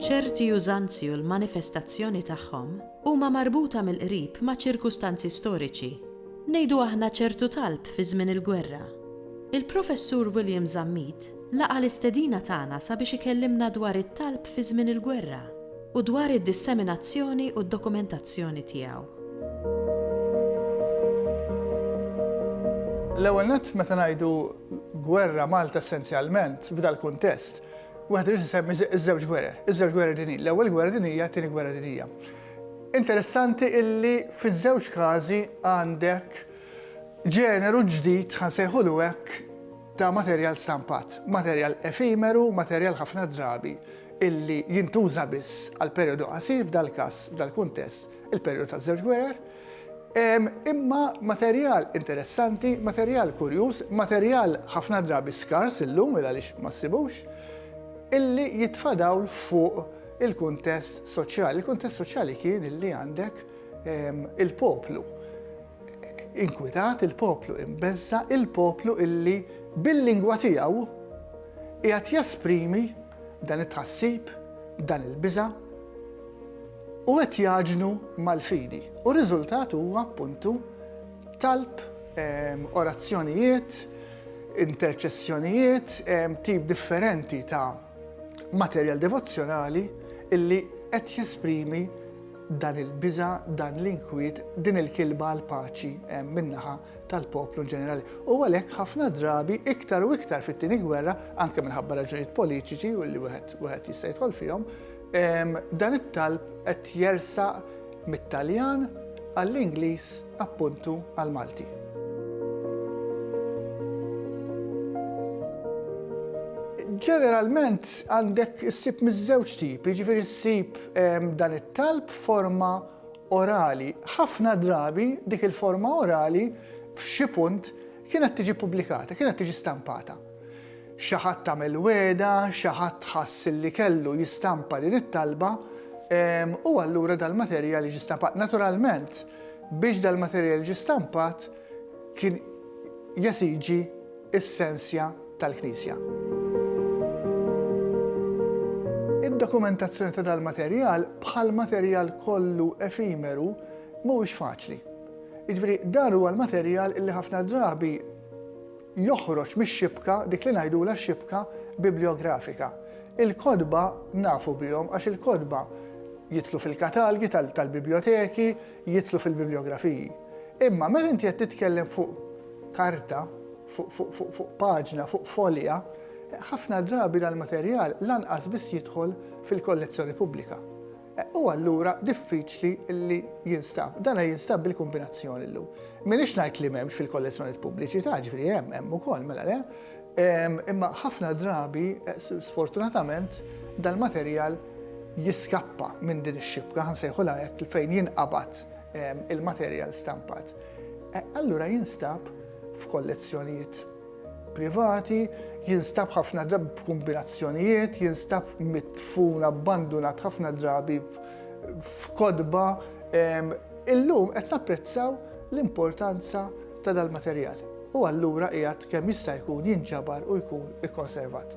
Ċerti użanzi u l-manifestazzjoni tagħhom huma marbuta mill-qrib ma' ċirkustanzi storiċi. Ngħidu aħna ċertu talb fi żmien il-gwerra, Il-Professur William Zammit laqa' l-istedina tagħna sabiex ikellimna dwar it-talb fi żmien il-gwerra u dwar id-disseminazzjoni u d-dokumentazzjoni tiegħu. L-ewwel nett, meta ngħidu gwerra Malta essenzjalment f'dal-kuntest, wieħed irid isemmi ż-żewġ gwerer, iż-żewġ gwerer dinjin, l-Ewwel Gwerra Dinjija, t-Tieni Gwerra Dinjija. Interessanti illi fiż-żewġ każi għandek Ġeneru ġdid, ħa nsejħulu hekk, ta' materjal stampat, materjal efimeru, materjal ħafna drabi illi jintuża biss għal perijodu qasir, f'dal-każ, f'dal-kuntest, il-perijodu taż-żewġ gwerer, imma materjal interessanti, materjal kurjuż, materjal ħafna drabi skars illum il għaliex ma ssibux, illi jitfa' dawl fuq il-kuntest soċjali. Il-kuntest soċjali kien illi għandek Il-poplu inkwitat, il-poplu imbeżża, il-poplu illi bil-lingwa tiegħu qiegħed jesprimi dan it-tħassib, dan il-biża' u qed jaġnu mal-fidi. U r-riżultat huwa appuntu talb, orazzjonijiet, interċessjonijiet, tip differenti ta' materjal devozzjonali illi qed jesprimi Dan il-biża', dan l-inkwiet, din il-kilba għall-paċi hemm min-naħa tal-poplu inġenerali. U għalhekk ħafna drabi iktar u iktar fit-Tieni Gwerra, anke minħabba raġunijiet politiċi u li wieħed jista' jidħol fihom, dan it-talb qed jersaq mit-Taljan għall-Ingliż appuntu għall-Malti. Ġeneralment għandek issib miż-żewġ tip, jiġifieri ssib ehm, dan it-talb forma orali. Ħafna drabi dik il-forma orali f'xi punt kienet tiġi pubblikata, kienet tiġi stampata. Xi ħadd għamel wegħda, xi ħadd ħass li kellu jistampa din it-talba, u allura dal-materjal jiġi stampat. Naturalment, biex dal-materjal jiġi stampat, kien jesiġi s-sensja tal-Knisja. Id-dokumentazzjoni ta' dal-materjal, bħal materjal kollu efimeru, mhuwiex faċli. Jiġifieri dan huwa l-materjal li ħafna drabi joħroġ mix-xibka dik li ngħidulha x-xibka bibliografika. Il-kotba nafu bihom għax il-kotba jidħlu fil-katalgi tal-bibljoteki, jidħlu fil-bibliografiji. Imma meta inti qed titkellem fuq karta, fuq paġna, fuq folja, ħafna drabi dal-materjal lanqas biss jidħol fil-kollezzjoni pubblika. u allura diffiċli li jinstab. Dana jinstab bil-kombinazzjoni llum. Minix ngħid li m'hemmx fil-kollezzjonijiet pubbliċi ta' ġifieri hemm hemm ukoll mela le, imma ħafna drabi sfortunatament dal-materjal jiskappa minn din ix-xibka, ħansejħulha hekk, fejn jinqabad il-materjal stampat. Allura jinstab f'kollezzjonijiet privati, jinstab ħafna drabi b'kumbinazzjonijiet, jinstab mitfun abbandunat ħafna drabi f'kodba. Illum qed napprezzaw l-importanza ta' dal-materjal u allura qiegħed kemm jista' jkun jinġabar u jkun ikkonservat.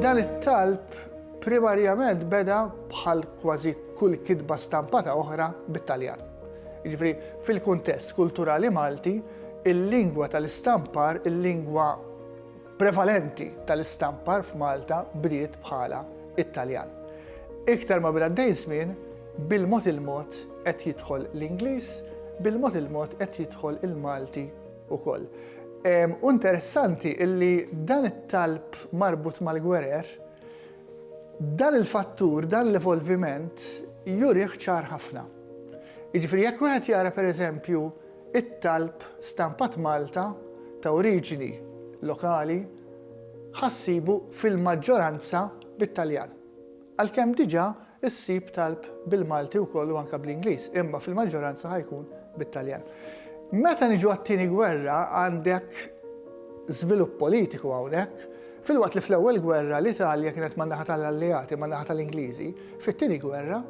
Dan it-talb Primarjament beda bħal kważi kull kitba stampata oħra bit-Taljan. Jiġifieri, fil-kuntest kulturali Malti, il-lingwa tal-istampar, il-lingwa prevalenti tal-istampar f'Malta bdiet bħala t-Taljan. Iktar ma bil għaddej żmien, bil-mod il-mod qed jidħol l-Ingliż, bil-mod il-mod qed jidħol il-Malti wkoll. U interessanti illi dan it-talb marbut mal-gwerer Dan il-fattur, dan l-evolviment jurih ċar ħafna. Jiġifieri jekk wieħed jara pereżempju t-talb stampat Malta ta' oriġini lokali, ħa ssibu fil-maġġoranza bit-Taljan. Għalkemm diġà Issib talb bil-Malti wkoll u anke bl-Ingliż, imma fil-maġġoranza ħa jkun bit-Taljan. Meta niġu għat-Tieni Gwerra għandek żvilupp politiku hawnhekk, filwaqt li fl-Ewwel Gwerra l-Italja kienet man-naħa tal-Alleati, man-naħa tal-Ingliżi, fit-Tieni Gwerra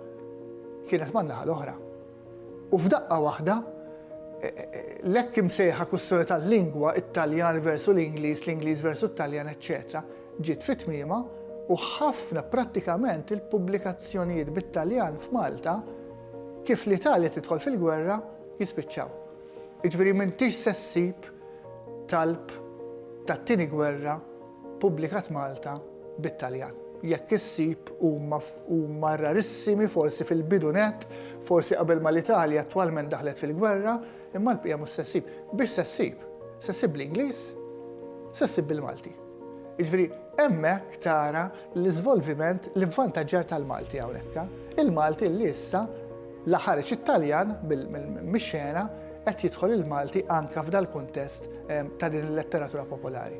kienet man-naħa l-oħra. U f'daqqa waħda l-hekk imsejħa kwistjoni tal-lingwa, it-Taljan versu l-Ingliż, l-Ingliż versu t-Taljan, eċċetera, ġiet fi tmiemha u ħafna prattikament il-pubblikazzjonijiet bit-Taljan f'Malta kif l-Italja tidħol fil-gwerra jispiċċaw. Jiġifieri m'intix se ssib talb tat-tieni gwerra pubblikat Malta bit-Taljan. Jekk issib huma huma rarissimi forsi fil-bidu net, forsi qabel ma l-Italja attwalment daħlet fil-gwerra, imma l-bqija mhux se ssib. Biex se ssib? Se ssib bl-Ingliż, se ssib bil-Malti. Jiġifieri hemmhekk tara l-iżvolviment, l-ivvantaġġar tal-Malti hawnhekk. Il-Malti li issa la ħareġ it-Taljan mix-xena qed jidħol il-Malti anke f'dal-kuntest ehm, ta' din il-letteratura popolari.